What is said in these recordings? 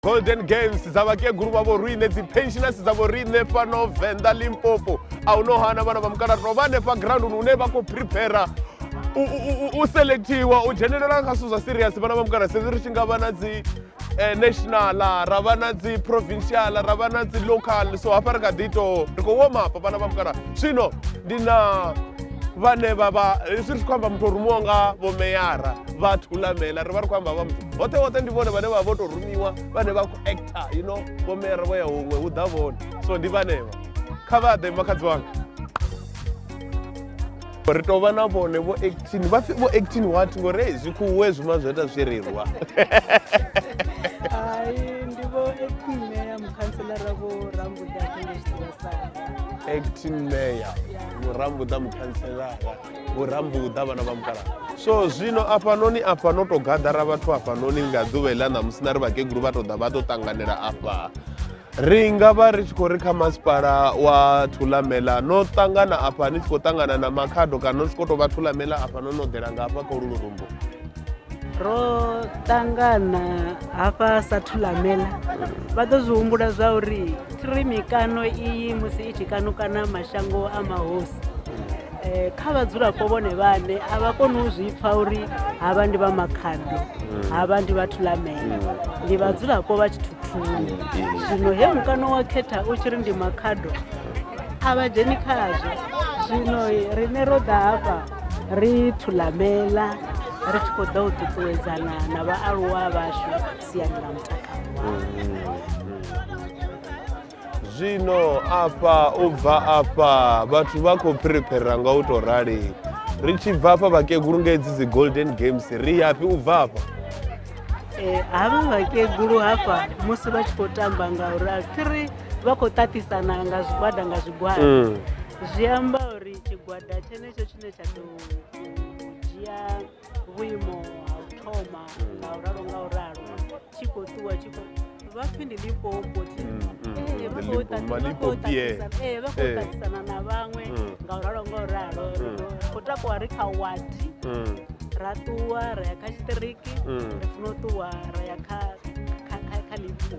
golden games dza vhakegulu vha vhoriṋe dzi pensioners dza vhoriṋe fhano venḓa limpopo a hu no hana vhana vha mukala to vha hanefha grounduni hune vha khou prepara u selectiwa u dzhenelela kha zwithu zwa serious vhana vha mukala sedzi ri tshi nga vha na dzi eh, national ra vha na dzi provincial ra vha na dzi local so hafha ri kha ḓi tou ri khou woma hafha vhana vha mukala zwino ndi na vhane vha vha hezwi ri tshi khou amba muthu o rumiwa nga vhomeyara vha thulamela ri vha ri khou amba vha muthu hoṱhe hoṱhe ndi vhone vhane vha vho tou rumiwa vhane vha khou actor you know vhomera vho ya huṅwe hu ḓa vhone so ndi vhanevha kha vha ḓe makhadzi wanga ri tou vha na vhone vho actin vha vho actin what ngori hei zwikhuwe zwima zwo ita zwi rirwa actin mayor murambuḓa mukhantselara vhurambuḓa vhana vha mukala so zwino afhanoni afha no to gaḓara vhathu afhanoni nga ḓuvha iḽa ṋamusi na ri vhakegulu vha to ḓa vha to ṱanganela afha ri nga vha ri tshi khou ri kha masipala wa thulamela no ṱangana afha ni tshi khou ṱangana na makhado kana no si khou tou vha thulamela afha no no ḓela nga afha kha ulu lurumbo ro ṱangana hafha sa thulamela vha ḓo zwi humbula zwa uri thiri mikano iyi musi i tshi kanukana mashango a mahosi Eh, kha vhadzulapo vhone vhane a vha koni u zwi pfa uri havha ndi vha makhado mm. havha ndi vhathu lamela mm. ndi vhadzulapo vha tshithuthuni mm. zwino he mukano wa khetha u tshi ri ndi makhado a vha dzheni khazwo zwino rine ro ḓa hafha ri thulamela ri tshi khou ḓa u ṱuṱuwedzana na vhaaluwa vhashu siani ḽa mutakalo zwino afha u bva afha vhathu vha khou phiriphirira nga u tou rali ri tshi bva afha vhakegulu nga hedzi dzi golden games ri yafhi u bva afha eh, havha vhakegulu hafha musi vha tshi khou tamba nga u rali three vha khou ṱaṱisana nga zwigwada nga zwigwada mm. zwi amba uri tshigwada tshenetsho tshine tsha ḓo dzhia vhuimo ha u thoma nga u ralo nga u ralo tshi khou ṱuwa tshi khou vha pfi ndi limpopo thi Mm, mm, Eh, mm, vha the khou Limpo- ṱaṱisa- vha khou Malimpopier. ṱaṱisa- eh, vha khou Eh. ṱaṱisana na vhaṅwe Mm. nga u ralo nga u ralo Mm. khou takuwa ri kha wadi Mm, ra ṱuwa ra ya kha tshiṱiriki mm. ri funa u ṱuwa ra ya kha kha- kha- kha limpopo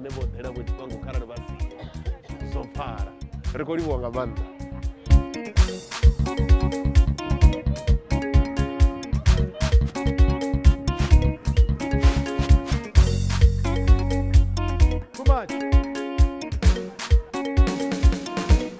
nṋe vho ḓela vho tshifhango kharali vha si zwo pfala ri khou livhuwa nga maanḓa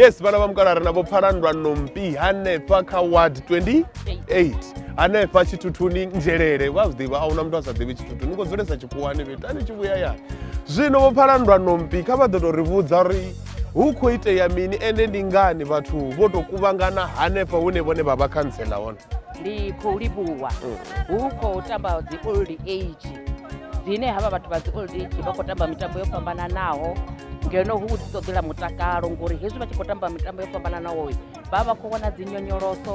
yes vhana vha mukala ri na vho pfalandwa nompi hanefha kha ward 28 hanefha tshithuthuni nzhelele vha zwi ḓivha a huna muthu a sa ḓivhi tshithuthu ni khou dzulesa tshikhuwani fhethu a ni tshi vhuya yani zwino vho pfalandwa nompi kha vha ḓo tou ri vhudza uri hu khou itea mini ende ndi ngani vhathu vho tou kuvhangana hanefha hune vhone vha vha khantsela hone ndi khou livhuwa hu khou tamba dzi old age dzine havha vhathu vha dzi old age vha khou tamba mitambo yo fhambananaho ngeno hu dzi ṱoḓela mutakalo ngori hezwi vha tshi khou tamba mitambo yo fhambananaho vha vha khou wana dzi nyonyoloso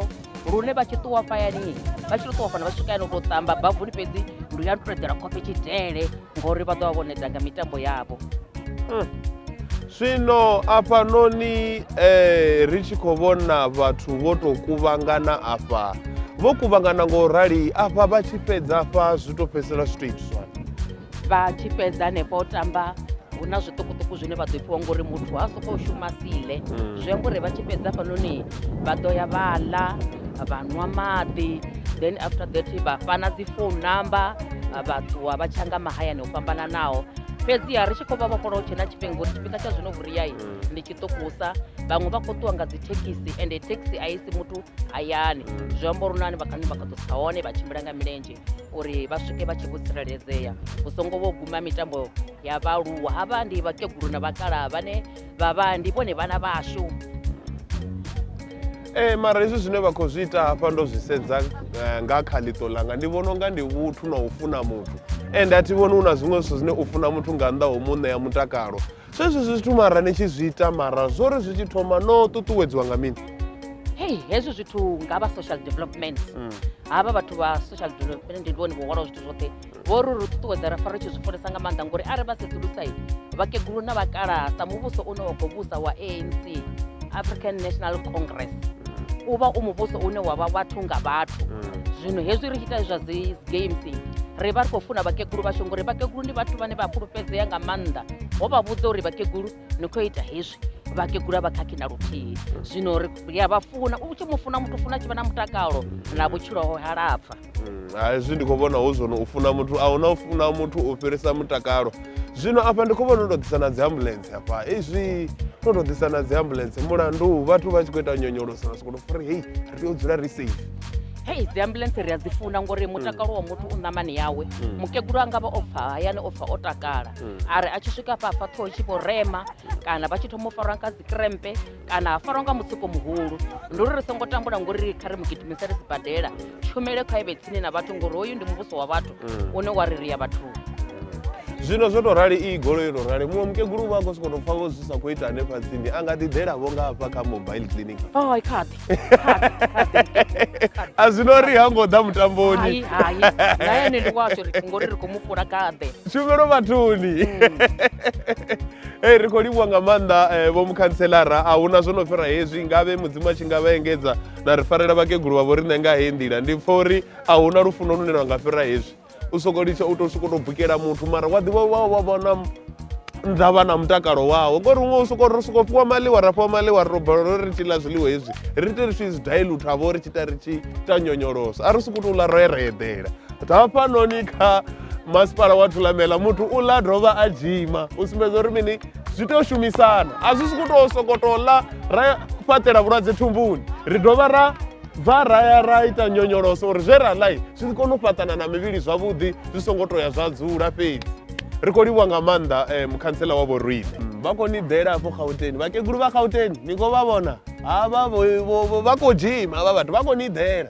lune vha tshi ṱuwa fhayani vha tshi to ṱuwa fhano vha swika yano u tou ṱamba bavuni fhedzi ndi ya nṱuṱuwedzela khofhe tshidele ngauri vha ḓo vha vho neta nga mitambo yavho zwino afhanoni eh, ri tshi khou vhona vhathu vho tou kuvhangana afha vho kuvhangana nga u rali afha vha tshi fhedza afha zwi tou fhedzisela zwi tou itiswa vha tshi fhedza hanefha u tamba hu na zwiṱukuṱuku zwine vha ḓo fhiwa ngori muthu ha sokou shuma sile zwi amba uri vha tshi fhedza hafhanoni vha ḓo ya vha ḽa vha nwa maḓi then after that vha fhana dzi phone number vha ṱuwa vha tshanga mahayani o fhambananaho fhedziha ri tshi khou vha vhofholola hu tshe na tshifhinga uri tshifhinga tsha zwino vhuriyai mm. ndi tshiṱukusa vhaṅwe vha khou ṱuwa nga dzi thekhisi ende thekhisi a isi muthu hayani zwi amba uri nani vhakani vha kha ḓosa hone vha tshimbila nga milenzhe uri vha swike vha tshi vho tsireledzea hu songo vho guma mitambo ya vhaaluwa ha vha ndi vhakegulu na vhakalaha vhane vha vha ndi vhone vhana vhashu ee mara hezwi zwine vha khou zwi ita hafha ndo zwi sedza eh, nga kha ḽiṱo ḽanga ndi vhona unga ndi vhuthu na u funa muthu ende a thi vhoni hu na zwiṅwe zwithu zwine u funa muthu nga nnḓa ho mu ṋea mutakalo zwezwi zwithu mara ni tshi zwi ita mara zwo ri zwi tshi thoma no ṱuṱuwedziwa nga mini hei hezwi zwithu nga vha social development mm. havha vhathu vha social development ndi vhone vho hwalaho zwithu zwoṱhe vho ri ri ṱuṱuwedza ra fa ri tshi zwi funesa nga maanḓa ngori arali vha sedzulusa vhakegulu na vhakalaha sa muvhuso une wa khou vhusa wa anc african national congress u vha u muvhuso une wa vha vhathu nga vhathu zwino hezwi ri tshi ita zwa dzi games ri vha ri khou funa vhakegulu vhashu ngori vhakegulu ndi vhathu vhane vha fhulufhedzea nga maanḓa ho vha vhudza uri vhakegulu ni khou ita hezwi vhakegula vha khakhi na luthihi zwino ri a vha funa u tshi mu funa muthu funa tshi vha na mutakalo na vhutshilo ho halapfa Mm, hezwi ndi khou vhona hu zwone u funa muthu a huna u funa muthu u fhirisa mutakalo zwino afha ndi khou vhona u tou ḓisa na dzi ambulense afha izwi no tou ḓisa na dzi ambulense mulandu vhathu vha tshi khou ita nyonyoloso na sokoto fari hei ri tea u dzula ri safe hei dzi ambulense ri a dzi funa ngori mutakalo wa muthu u ṋamani yawe Mm. mukegulu a nga vha o bva hayani o bva o takala Mm. a ri a tshi swika hafha hafha ṱhoho tshi vho rema kana vha tshi thoma u farwa nga dzi krempe kana ha farwa nga mutsiko muhulu ndi uri ri songo tambula ngori kha ri mu gidimisele sibadela tshumele kha ivhe tsini na vhathu ngori hoyu ndi muvhuso wa vhathu mm. une wa ri ri ya vhathuni zwino zwo tou rali iyi golo yo tou rali muṅwe mukegulu vha khou sokoto pfa vho zwi sa khou ita hanefha tsini a nga ḓiḓelavo nga hafha kha mobile clinic a zwino ri ha ngo ḓa mutamboni tshumelo vhathuni mm. Hey, ri khou livhuwa nga maanḓa eh, vho mukhantselara a huna zwo no fhira hezwi ngavhe mudzimu a tshi nga vha engedza na ri farela vhakegulu vha vho riṋe nga heyi nḓila ndi pfa uri a huna lufuno lune lwa nga fhira hezwi u soko litsha u to soko to bukela muthu mara wa ḓivha wa wa vhona nḓa vha na mutakalo wawo ngori huṅwe u soko ro soko fhiwa maḽiwa ra fhiwa maḽiwa ro bala ro ri tshi ḽa zwiḽiwa hezwi ri ite ri tshi zwi dilute ha vho ri tshi ita ri tshi ita nyonyoloso a ri soko to ḽa ro ereḓela hafhanoni kha masipala wa thulamela muthu u ḽa dovha a dzhima u sumbedza uri mini zwi tea u shumisana a zwi si ku tou sokoto ḽa ra fhaṱela vhulwadze thumbuni ri dovha ra bva ra ya ra ita nyonyoloso uri zwe ra ḽai zwi si kone u fhaṱana na mivhili zwavhuḓi zwi songo to ya zwa dzula fhedzi ri khou livhuwa nga maanḓa um eh, mukhantsela wa vhorine mm, vha khou ni ḓela afho gauteni vhakegulu vha gauteni ni khou vha vhona havha vha khou dzhima havha vhathu vha khou ni ḓela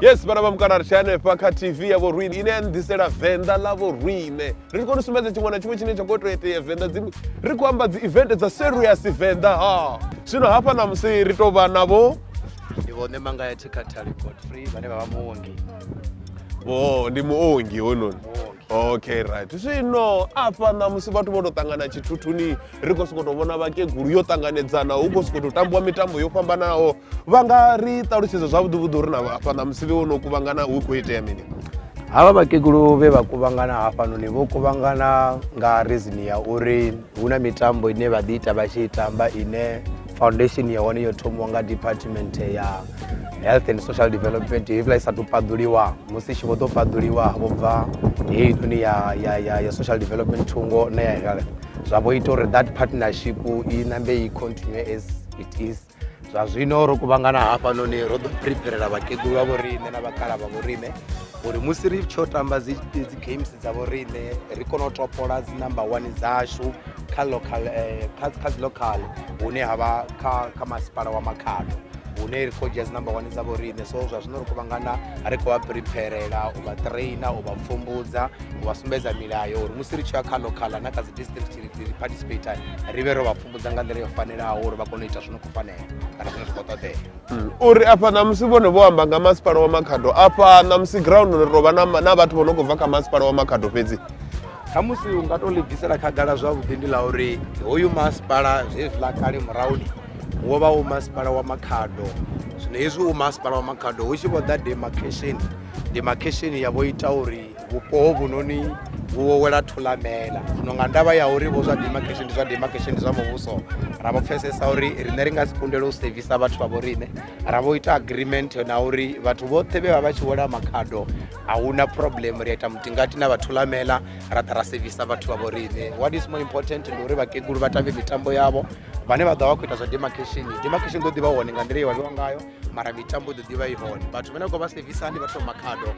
yes vhana vha mukana ri tshi hanefha kha tv ya vhorwine ine ya nḓisela venḓa ḽa vhorwine ri khou ni sumbedza tshiṅwe na tshiṅwe tshine tsha khou tou itea venḓa dzi ri khou amba dzi event dza serious venḓa ha zwino hafha na musi ri tou vha navho ndi vhone manga ya thikhathali godfrey vhane vha vha muongi o ndi muongi hononi okay right zwino afha na musi vhathu vho tou ṱangana tshithuthuni ri khou sokou tou vhona vhakegulu yo ṱanganedzana hu khou sokou tou tambiwa mitambo yo fhambanaho vha nga ri ṱalutshedza zwavhuḓivhuḓi uri na hafha na musibe wo no kuvhangana hu khou itea mini havha vhakegulu vhe vha kuvhangana hafhanoni vho kuvhangana nga reason ya uri hu na mitambo ine vha ḓi ita vha tshi i tamba ine foundation ya hone yo thomiwa nga department ya health and social development hevhiḽa i sa tou paḓuliwa musi tshi vho ḓo paḓuliwa vho bva heinoni ya social development thungo na ya health zwa vho ita uri that partnership i nambe i continue as it is zwa zwino ro kuvhangana hafhanoni ro ḓo preparela vhakegulu vha vho riṋe na vhakala vha vho riṋe uri musi ri tsho tamba dzi games dza vho riṋe ri kone u topola dzi number one dzashu kha local eh, kha dzi local hune ha vha kha masipala wa makhado hune ri khou dzhia dzi number one dza vho riṋe so zwa zwino ri kuvhangana ri khou vha preparela u vha traina u vha pfumbudza u vha sumbedza milayo uri musi ri tshi ya kha locala na kha dzi district ri participate ri vhe ro vha pfumbudza nga nḓila yo fanelaho uri vha kone u ita zwino khou fanela kana zwine zwi khou ṱoḓea mm. uri afha ṋamusi vhone vho amba nga masipala wa makhado afha ṋamusi ground ri tovha na vhathu vho no khou bva kha masipala wa makhado fhedzi khamusi u nga to ḽi bvisela khagala zwavhuḓi ndi ḽa uri hoyu masipala zwezwiḽa kale murahuni wo vha u masipala wa makhado zwino hezwi u masipala wa makhado hu tshi vho ḓa demarcation demarcation ya vho ita uri vhupo hovhunoni vhu wo wela thulamela zwino nga ndavha ya uri vho zwa demarcation ndi zwa demarcation ndi zwa muvhuso ra vho pfesesa uri riṋe ri nga si kundele u sevisa vhathu vha vho riṋe ra vho ita agreement na uri vhathu vhoṱhe vhe vha vha tshi wela makhado a hu na problem ri a ita mutingati na vhathulamela ra ḓa ra sevisa vhathu vha vho riṋe what is more important ndi uri vhakegulu vha tambe mitambo yavho vhane vha ḓo vha vha khou ita zwa demarcation demarcation ḓo ḓivha hone nga nḓila ye wa vhewa ngayo mara mitambo ḓo ḓivha i hone vhathu vhane khou vha sevisa ndi vhathu makhado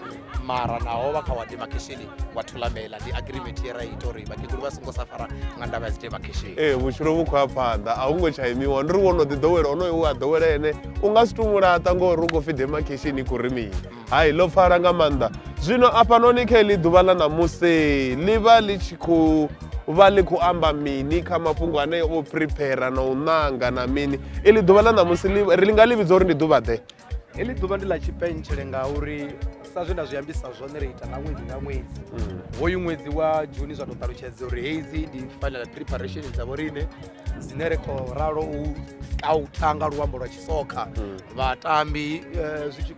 mara naho vha kha wa demarcation wa thulamela ndi agreement ye ra ita uri vhakegulu vha songo sa fara nga ndavha ya dzi demarcation ee vhutshilo vhu khou ya phanḓa a hu ngo tsha imiwa ndi ri wo no ḓi ḓowela onoyo we a ḓowela ene u nga si tou mulaṱa ngori u khou pfhi demarcation i khou ri mini Hai, ḽo pfala nga maanḓa. Zwino afhanoni kha eḽi ḓuvha ḽa ṋamusi ḽi vha ḽi tshi khou vha ḽi khou amba mini kha mafhungo ane o prepare na u ṋanga na mini iḽi ḓuvha ḽa ṋamusi ri nga ḽi vhidza uri ndi ḓuvha ḓe heḽi ḓuvha ndi ḽa tshipentshele ngauri sa zwe nda zwi ambisa zwone ri ita nga ṅwedzi nga ṅwedzi mm. hoyu ṅwedzi wa juni zwa tou ṱalutshedza uri hedzi ndi final preparation dza vho riṋe dzine ri khou ralo u a u tanga luambo lwa tshisokha mm. vhatambi eh, zwi tshi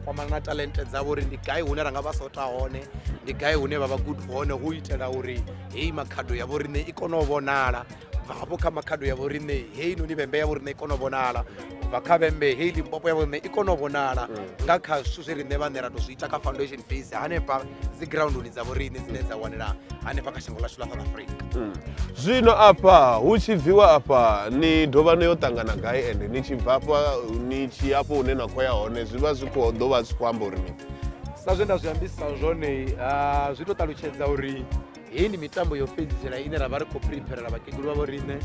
kwamana na talente dzavho uri ndi gai hune ra nga vha sota hone ndi gai hune vha vha good hone hu itela uri heyi makhado ya vhoriṋe i kone u vhonala bva hafho kha makhado ya vhoriṋe heyi noni vhembe ya vhoriṋe i kone u vhonala bva kha vhembe heyi limpopo ya vhoriṋe i kone u vhonala mm. nga kha zwithu zwe riṋe vhaṋe ra to zwi ita kha foundation base hanefha dzi grounduni dza vhoriṋe dzine dza wanela hanefha kha shango ḽashu ḽa south africa mm. zwino afha hu tshi bviwa afha ni dovha no yo ṱangana gai ende ni tshi bva afha ni tshi afho hune na khou ya hone zwi vha zwi khou ḓo vha zwi khou amba uri sa zwe nda zwi ambisa zwone ah, zwi to ṱalutshedza uri heyi ndi mitambo yo fhedzisela ine ra vha ri khou prepherela vhakegulu vha vho riṋe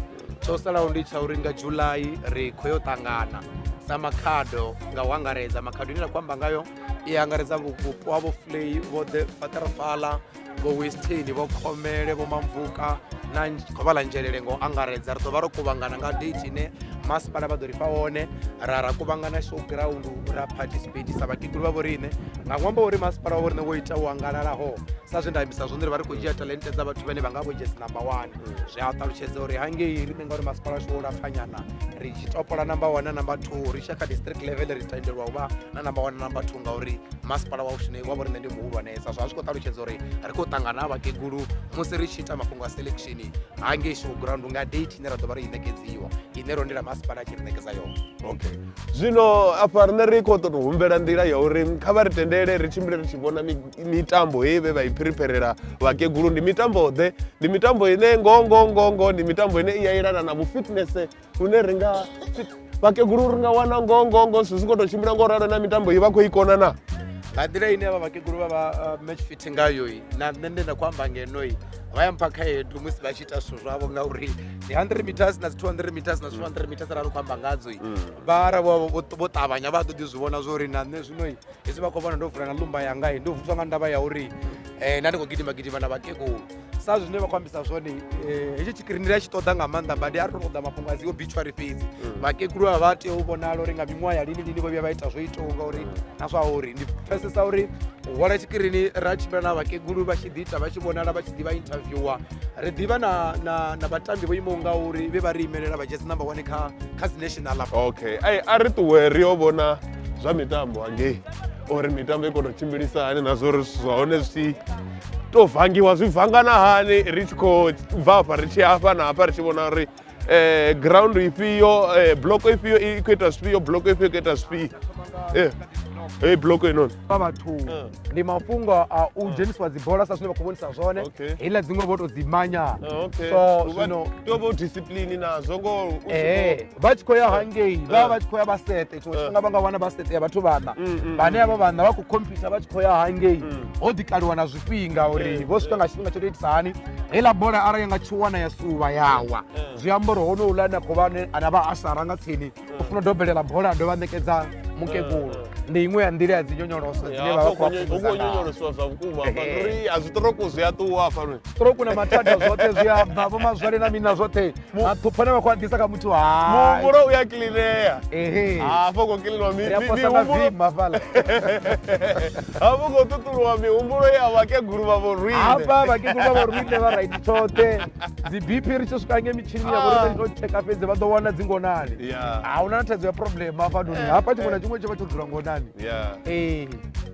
tsho salaho ndi tsha uri nga july ri khou yo ṱangana sa makhado nga u angaredza makhado ine ra khou amba ngayo i angaredza vhupo ha vho flay vho the fatarafala vho western vho khomele vho mamvuka na khou vha ḽa nzhelele nga u angaredza ri ḓo vha ro kuvhangana nga date ine masipala vha ḓo ri fha hone ra ra kuvhangana show ground ra participate sa vhakegulu vha vho riṋe nga ṅwambo uri masipala wa vhoriṋe wo ita u angalalaho sa zwe nda ambisa zwone ri vha ri khou dzhia talente dza vhathu vhane vha nga vho jesi number one zwi a ṱalutshedza uri hangei riṋe ngauri masipala washu wo lapfanyana ri tshi topola number one na number two ri tshia kha district level ri tendelwa u vha na number one na number two ngauri masipala wa ushune wa vhoriṋe ndi muhulwanesa zwa zwi khou ṱalutshedza uri ri khou ṱangana ha vhakegulu musi ri tshi ita mafhungo a selection hangei showground nga date ine ra ḓo vha ro i ṋekedziwa ine ro ndila masipala a tshi ri ṋekedza yone okay zwino afha riṋe ri khou ṱoḓa u humbela nḓila ya uri kha vha ri tendele ri tshimbile ri tshi vhona mitambo heyi vhe vha i phiripherela vhakegulu ndi mitambo ḓe ndi mitambo ine ngoho ngoho ngoho ngoho ndi mitambo ine i ya yelana na vhufitnese hune ri nga vhakegulu ri nga wana ngoho ngoho ngoho zwithu zwi khou tou tshimbila ngo ralo na mitambo i vha khou i kona na nga nḓila ine vha vhakegulu vha vha uh, match fit ngayo na nṋe nda khou amba ngenoi vha ya mpha khaedu musi vha ita zwithu zwavho ngauri ndi 100 meters na dzi 200 meters na 200 meters arali khou amba ngadzo i mm. vhara vho vho ṱavhanya vha ḓo ḓi zwi vhona zwo uri na nṋe zwino i hezwi vha khou vhona ndo vula na lumba yanga i ndo vutswa nga ndavha ya uri um na ndi khou gidima gidima na vhakegulu sa zwine vha khou ambisa zwone um hetshi tshikirini ri a tshi ṱoḓa nga maanḓa badi a ri to ṱoḓa mafhungo a dzi obituary fhedzi mm. vhakegulu vha vha tea u vhonala uri nga miṅwaha ya lini lini vho vhuya vha ita zwo itaho ngauri na zwa uri ndi pfesesa uri u hwala tshikirini ra tshimbila na vhakegulu vha tshi ḓi ita vha tshi vhonala vha tshi ḓi vha interviewer ri ḓivha na na na vhatambi vho imaho nga uri vhe vha ri imelela vha jesi number one kha kha dzi national hafha okay ai a ri ṱuwe ri yo vhona zwa mitambo hangei uri mitambo i kona u tshimbilisa hani na zwori zwithu zwa hone zwi to vangiwa zwi vangana hani ri tshi khou bva hafha ri tshi hafha na hafha ri tshi vhona uri eh, ground ifhio eh, block ifhio i khou ita zwifhio block ifhio i khou ita zwifhio eh. Hey, block ino vha vhathu eh. ndi mafhungo a u eh. dzhenisiwa dzibola sa zwine vha khou vhonisa zwone heiḽa dziṅwe vho to dzi manya eh, so zwino to vho discipline nazwo ngo eh vha tshi khou ya hangei vha vha tshi khou ya vha sete tshiṅwe tshifhinga vha nga wana vha sete ya vhathu vhana mm, mm, vhane mm. avha vhana vha khou computer vha tshi khou ya hangei ho ḓi kaliwa na zwifhinga uri vho swika nga tshifhinga tsho to itisa hani heiḽa bola arali ya nga tshi wana ya suvha yawa eh. zwi amba uri honouḽa ane a khou vha ane a vha a sara nga tsini eh. u funa u dobelela bola a dovha a ṋekedza mukegulu eh. ndi iṅwe ya nḓila ya dzi nyonyoloso dzine vha vha khou vha nyonyolosiwa zwa vhukuma ri a zwiṱoroku zwi a ṱuwa fano stroku na mathada zwoṱhe zwi a bva vho mazwale na mini na zwoṱhe maṱhupha ne vha khou a ḓisa kha muthu hai muhumbulo u ya kilinea ehe hafho u khou kilinwa mi- ri a mi- posa na mihumbulo vima fhala hafho u khou ṱuṱuluwa mihumbulo ya vhakegulu vha vhorine hafha vhakegulu vha vhorine vha raiti tshoṱhe dzi bp ri tshi swika nge mitshini ya vhorine ri to tsheka fhedzi vha ḓo wana dzi ngonani Yeah. a huna na thaidzo ya problem hafha noni hafha tshiṅwe na tshiṅwe tshi vha tsho dzula ngonani Yeah. ee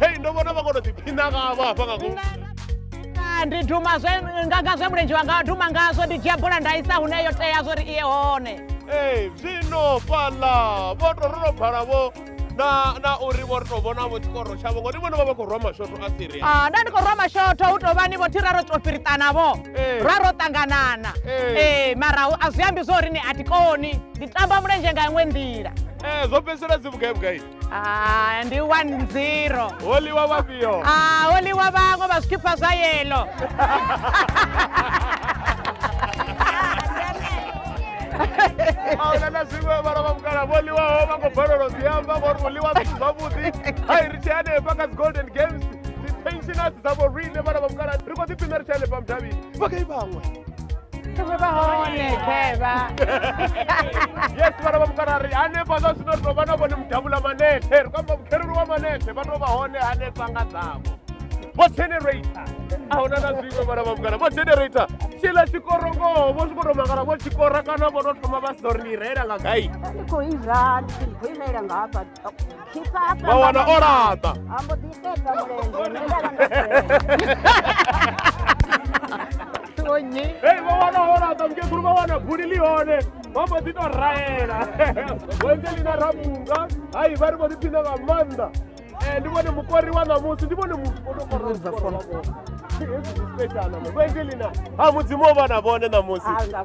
hei ndo vhona vha kono ḓiphina ngavho hafha nga ngomu ndi duma zwe ngaga zwe mulenzhe wanga duma ngazwo ndi dzhia bola nda isa hune yo tea zwo ri iye hone ee zwino fhaḽa vho to ro no bvala vho na na uri vho ri to vhona vho tshikoro tshavho ngori vhone vha vha khou rwa mashoto a siria a ah, nda ndi khou rwa mashoto hu tou vhani vho thira ro to fhiriṱana vho eh. ra ro ṱanganana ee eh. eh, mara a zwi ambi zwo uri ni a tikoni ndi tamba mulenzhe nga iṅwe nḓila ee zwo fhedzisela dzi vhugai vhugai Ah, ndi 1-0. Oliwa vhafhio? Ah, oliwa vhaṅwe vha zwikhipha zwa yellow. ahuna na zwiṅwe vhala vha mukala vho ḽiwaho vha khou balelwa zwi amba ngori u ḽiwa zwithu zwavhuḓi a i ri tshi hanefha kha dzi golden games dzi pensioners dzavho riṋe vhala vha mukala ri khou ḓipfina ri tshi hanefha mudavhini vhagai vhaṅwe Tumwe vahone kheva. yes vana va mukarari hanefha zwa zwino ri tou vha na vhone mudavhula manethe ri kwamba vhukherulu wa manethe vha tou vha hone hanefha nga dzavho vho generator a huna na zwiṅwe vhana vha mukara vho generator tshila tshikorongoho vho swiko tou mangala vho tshikora kana vho tou thoma vha si ḓo ri ni reila nga gai Ndi khou izwa ndi khou imelela nga hafha Tshifhaṱa vha wana o laṱa a mbo ḓi fhedza mulenzhe nṋe nda vha ndo fela. Wo nyi. hei vha wana o laṱa mukegulu vha wana buli ḽi hone vha mbo ḓi tou raela wenzelina ramunga hai vha ri vho ḓi phina nga maanḓa Eh, ndi vhone mukori wa ṋamusi ndi vhone muoaana wenzelina ha mudzimu o vha na vhone ṋamusi Ah, nga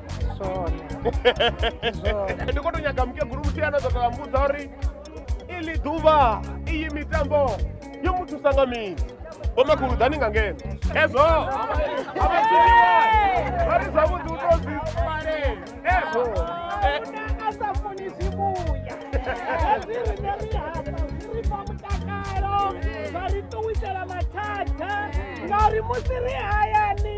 zone zone ndi khou tou nyaga mukegulu muthihi ano ṱoḓa mbudza uri ili ḓuvha iyi mitambo yo mu thusa nga mini vhomakhulu ḓani nga ngeno ezwo avasiliwa vha ri zwavhuḓi u to zwi fale ezwo a sa funi zwi vhuya hezwi rine ri hasa zwi ri fha mutakalo zwa ri ṱuwisela mathada ngauri musi ri hayani